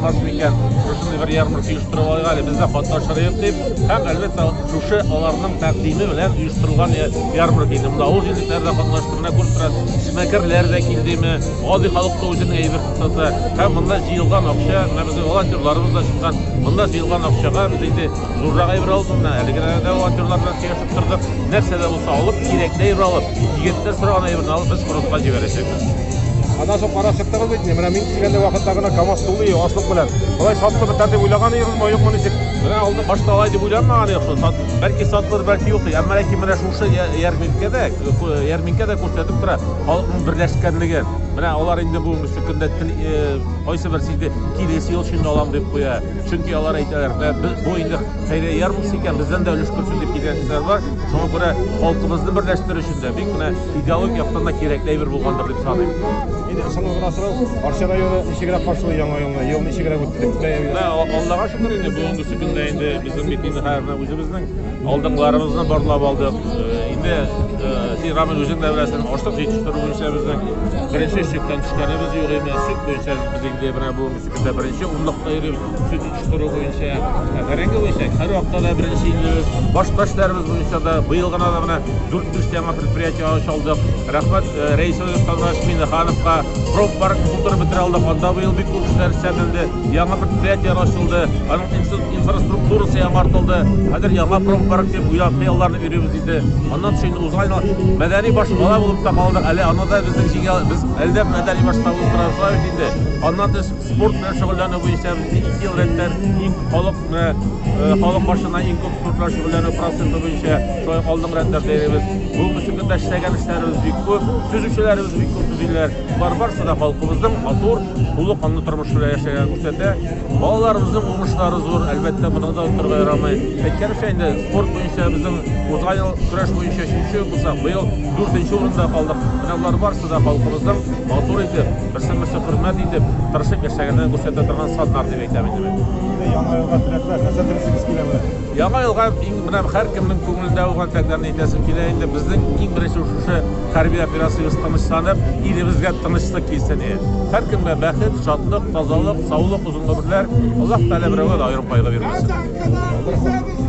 Булмас микән, шушындый бер ярмарка оештырып алайык әле, без дә катнашырыйк дип, һәм әлбәттә шушы аларның тәкъдиме белән оештырылган ярмарка инде. Монда авыл җирлекләре дә катнашты, менә күреп торасыз, эшмәкәрләр дә килдеме, гади халык та үзенең әйбер сатты. Һәм монда җыелган акча, менә безнең волонтерларыбыз да чыккан. Монда җыелган акчага без инде зуррак әйбер алдык, менә әлеге дә волонтерлар белән сөйләшеп тордык. Нәрсә дә булса алып, кирәкле әйбер алып, егетләр сораган әйберне алып, без фронтка җибәрәчәк. Аннан соң карап чыктыгыз бит, менә мин килгәндә вакытта гына КАМАЗ тулы ашлык белән. Болай сатылып бетәр дип уйлаган идегезме, юкмы ничек? Менә алды башта алай дип уйланмаган идек шул. Сат, бәлки сатылыр, бәлки юк. Әмма ләкин менә шушы ярминкәдә, ярминкәдә күрсәтеп тора халыкның берләшкәнлеген. Менә алар инде бүгенге көндә кайсы бер сиде килес ел өчен алам дип куя. Чөнки алар әйтәләр, без бу инде хәйрия ярминкә икән, бездән дә өлеш күрсен дип килгән кешеләр бар. Шуңа күрә халкыбызны берләштерү өчен дә бик менә Идеология яктан да кирәкле әйбер булгандыр дип саныйм. Инде соңгы гына сорау, Арча районы ничегрәк каршылый яңа елны? Ел ничегрәк үтте? Ә, Аллага шөкер инде бүгенге көндә инде безнең бит инде хәзер үзебезнең алдыңларыбызны барлап алдык. Э, инде син э, Рамил үзең дә беләсең, ашлык җитештерү буенча безнең беренче чиктән төшкәнебез юк иде. Сөт буенча без инде менә бүгенге Бездә беренче унлыкта йөрибез. Сөт җитештерү буенча, бәрәңге буенча һәр вакытта да беренче инде. Башка эшләребез буенча да быел гына да менә 4-5 яңа предприятие ач алдык. Рәхмәт э, Рәис Владимирович Минехановка. Промпарк булдырып бетерә алдык. Анда быел бик күп эшләр эшләнде. Яңа предприятие ачылды. Аның инфраструктурасы яңартылды. Хәзер яңа промпарк дип уйлап хыялларны өйрибез инде. Аннан соң инде узган мәдәни башкала булып та калды. Әле аны да безнең җиңә без әлдә мәдәни башкала булып торабыз. Аннан тыш, спорт белән шөгыльләнү буенча безне ике ел рәттән иң халык менә э, халык башына иң күп спорт белән шөгыльләнү проценты буенча шулай алдынгы рәтләрдә йөрибез. Бүгенге көндә дә эшләгән эшләребез бик күп, төзүчеләребез бик күп төзиләр. Бар барысы да халкыбызның матур, тулы канлы тормыш белән яшәгән күрсәтә. Балаларыбызның уңышлары зур, әлбәттә, моны да оттырга ярамый. Әйткәнемчә инде, спорт буенча безнең узган ел көрәш буенча 3 булсак, быел 4 урында калдык. Менә болар барысы Шушы да халкыбызның матур итеп, берсен-берсе хөрмәт итеп, тырышып яшәгәнен күрсәтә торган саннар дип әйтәм инде мин. Инде Яңа елга теләкләр, нәрсә телисегез килә белә? Яңа елга иң берәм һәркемнең күңелендә булган теләкләрне әйтәсем килә инде. Безнең иң беренче шушы хәрби операциябез тынычланып, илебезгә тынычлык килсен иде. Һәркемгә бәхет, шатлык, тазалык, саулык, озын гомерләр. Аллаһ Тәгалә берәүгә дә аерым кайгы бирмәсен.